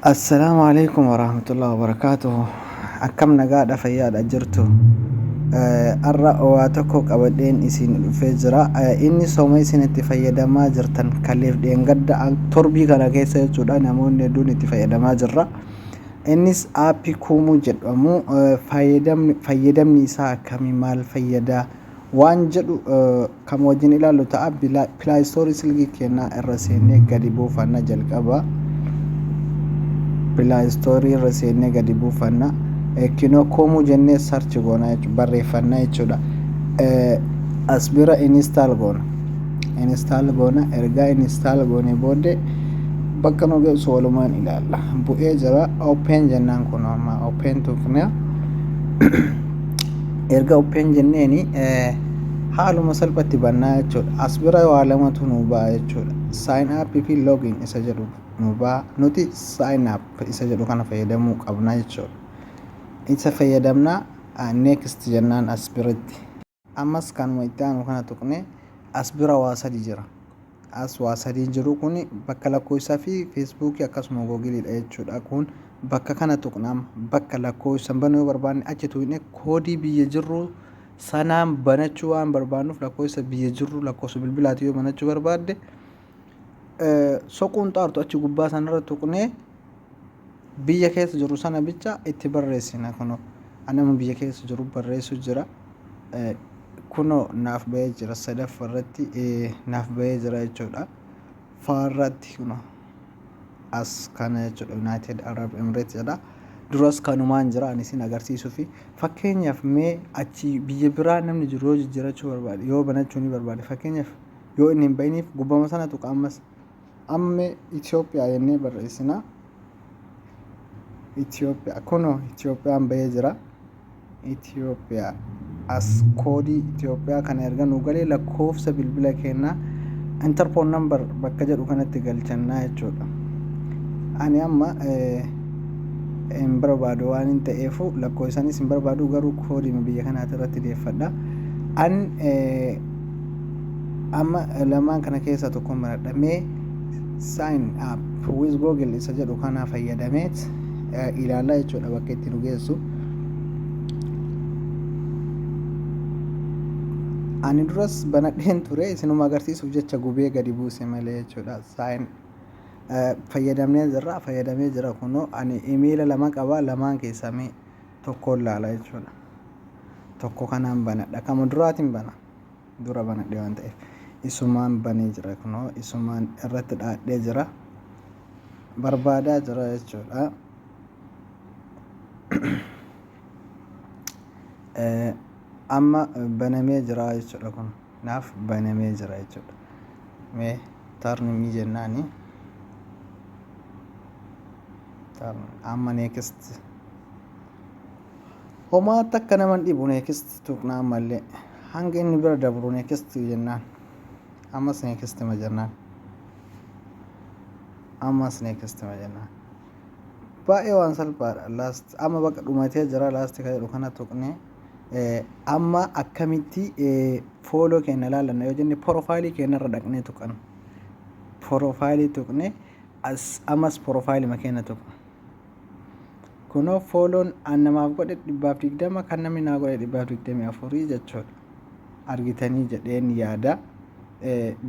Assalaamu alaikum warahmatullahi wabarakaatuhu akkam nagaadha fayyaadha jirtu har'a waa tokko qabadheen isin dhufee jira inni sooma isin itti fayyadamaa jirtan kaleef dheengadda torbii kana keessa jechuudha namoonni hedduun itti fayyadamaa jirra innis aappii kuumuu jedhamu fayyadamni isaa akkamii maal fayyadaa waan jedhu kan wajjin ilaallu ta'a pilaayistoorii silkii keenyaa irra seennee gadi buufanna jalqaba pilaayistoorii irra seennee gadi buufanna kinoo koomuu jennee sarchi goona barreeffanna jechuudha as bira inistaal goona inistaal goona ergaa inistaal goone booddee bakka nu geessu walumaan ilaalla bu'ee jira open jennaan kun amma open tuqnaa erga upheen jenneeni haaluma salphatti bannaa jechuudha as bira waa lamatu nu ba'a jechuudha sign up fi login isa jedhu nu ba'a nuti sign up isa jedhu kana fayyadamuu qabna jechuudha isa fayyadamna next jennaan as biratti ammas kanuma itti aanu kana tuqne as bira waa sadi jira as waa sadii jiru kun bakka lakkoofsa fi feesbuukii akkasuma googiliidha jechuudha kun bakka kana tuqnaam bakka lakkoofsan banuu yoo barbaanne achi tuqne koodii biyya jirru sanaan banachuu waan barbaannuuf lakkoofsa biyya jirru lakkoofsa bilbilaati yoo banachuu barbaadde soquun xaartu achi gubbaa sanarra tuqnee biyya keessa jiru sana bicha itti barreessina kuno anama biyya keessa jiru barreessu jira kuno naaf ba'ee jira sadaffa irratti naaf ba'ee jira jechuudha faarratti kuno as kana jechuudha United Arab Emirates jedha duras kanumaan jira ani isin agarsiisuu fi fakkeenyaaf mee achi biyya biraa namni jiru yoo jijjiirachuu barbaade yoo banachuu ni barbaade fakkeenyaaf yoo inni hin ba'iniif gubbama sana tuqa ammas Amme Ethiopia jennee barreessina. Ethiopia kunoo Ethiopiaan bahee jira. Ethiopia as koodii Ethiopia kana erga nu galee lakkoofsa bilbila keenyaa enter phone number bakka jedhu kanatti galchannaa jechuudha. Ani amma hin barbaadu waan hin ta'eefu lakkoofsanis hin barbaadu garuu koodiin biyya kanaati irratti deeffadha. An Amma lamaan kana keessaa tokkon baradha. Mee sign up with Google isa jedhu kana fayyadameet ilaallaa jechuudha bakka itti nu geessu. Ani duras banadheen ture isinuma agarsiisuuf jecha gubee gadi buuse malee jechuudha. Sign fayyadamnee jirra fayyadamee jira kunoo ani imiila lama qaba lamaan keessaa mee tokkoon laala jechuudha. Tokko kanaan banadha kama duraatiin bana. dura banadhe waan ta'eef isumaan banee jira kunoo isumaan irratti dhaadhee jira barbaadaa jira jechuudha amma banamee jira jechuudha kun naaf banamee jira jechuudha mee tarnimii jennaani amma neekist Homaa takka nama hin dhibu next tuqna ammallee hanga inni bira dabru next jennaan ammas next ma jennaan ammas next ma jennaan baay'ee waan salphaadha last amma bakka dhumatee jira last kan jedhu kana tuqne eh, amma akkamitti eh, fooloo keenya ilaallanna yoo jenne porofaayilii keenya irra dhaqnee tuqan porofaayilii tuqne as ammas porofaayilii keenya tuqna kunoo fooloon an namaaf godhe dhibbaaf digdama kan namni naa godhe dhibbaaf digdamii afurii jechuudha argitanii jedheen yaada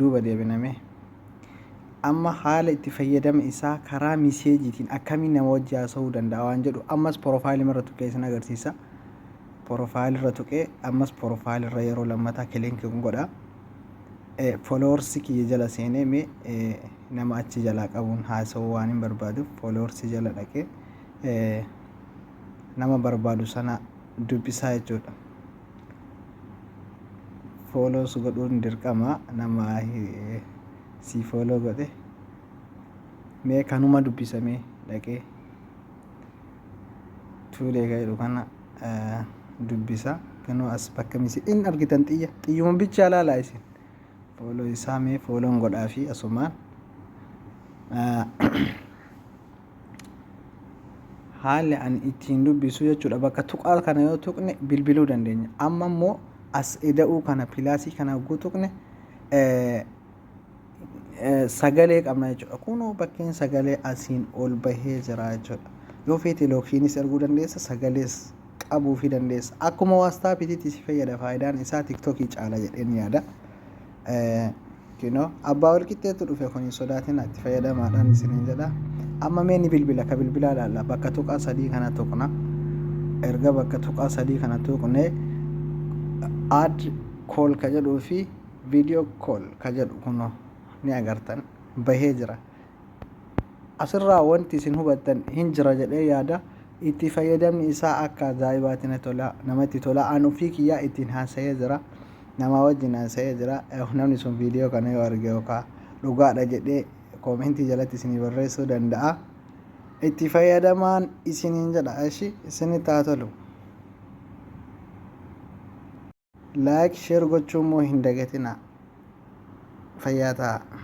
duuba deebiname amma haala itti fayyadama isaa karaa miseejiitiin akkamiin nama wajji haasa'uu danda'a waan jedhu ammas porofaayilii irra tuqee isin agarsiisa porofaayilii irra tuqee ammas porofaayilii irra yeroo lammataa kiliinki godha Followers kiyya jala seenee mee nama achi jalaa qabuun haasa'uu waan hin barbaaduuf followers jala dhaqee nama barbaadu sana dubbisaa jechuudha. Follows godhuun dirqama nama si follow godhe mee kanuma dubbisamee dhaqee tuulee ka'edhu kana. dubbisaa ganoo as bakka misi in argitan xiyya xiyyuma bichaa laalaa isin fooloo isaa mee fooloon godhaa fi asumaan haalli ani ittiin dubbisu jechuudha bakka tuqaa kana yoo tuqne bilbiluu dandeenya amma immoo as eda'uu kana pilaasii kana hogguu tuqne sagalee qabna jechuudha. Kunoo bakkeen sagalee asiin ol bahee jira jechuudha. Yoo feete lookiinis erguu dandeessa sagalees qabuu fi dandeessa. Akkuma waastaapiitiitti si fayyada faayidaan isaa tiktokii caala jedheen yaada. Kunoo abbaa walqixxeetu dhufe kun hin sodaatin itti fayyadamaadhaan isiniin jedha. Amma mee ni bilbila ka bilbilaa ilaalla bakka tuqaa sadii kana tuqna. Erga bakka tuqaa sadii kana tuqne add kool ka jedhuu fi Video call ka jedhu kuno ni agartan bahee jira. Asirraa wanti isin hubattan hin jira jedhee yaada. Itti fayyadamni isaa akka ajaa'ibaati na tola namatti tola an ofii kiyyaa ittiin haasa'ee jira. Namaa wajjin haasa'ee jira. Namni sun viidiyoo kana yoo arge yookaan dhugaadha jedhee koomentii jalatti isinii barreessuu danda'a. Itti fayyadamaan isiniin jedha. Ishi isinitti haa tolu. Like sher gochuu immoo hin dagatinaa fayyaa tahaa.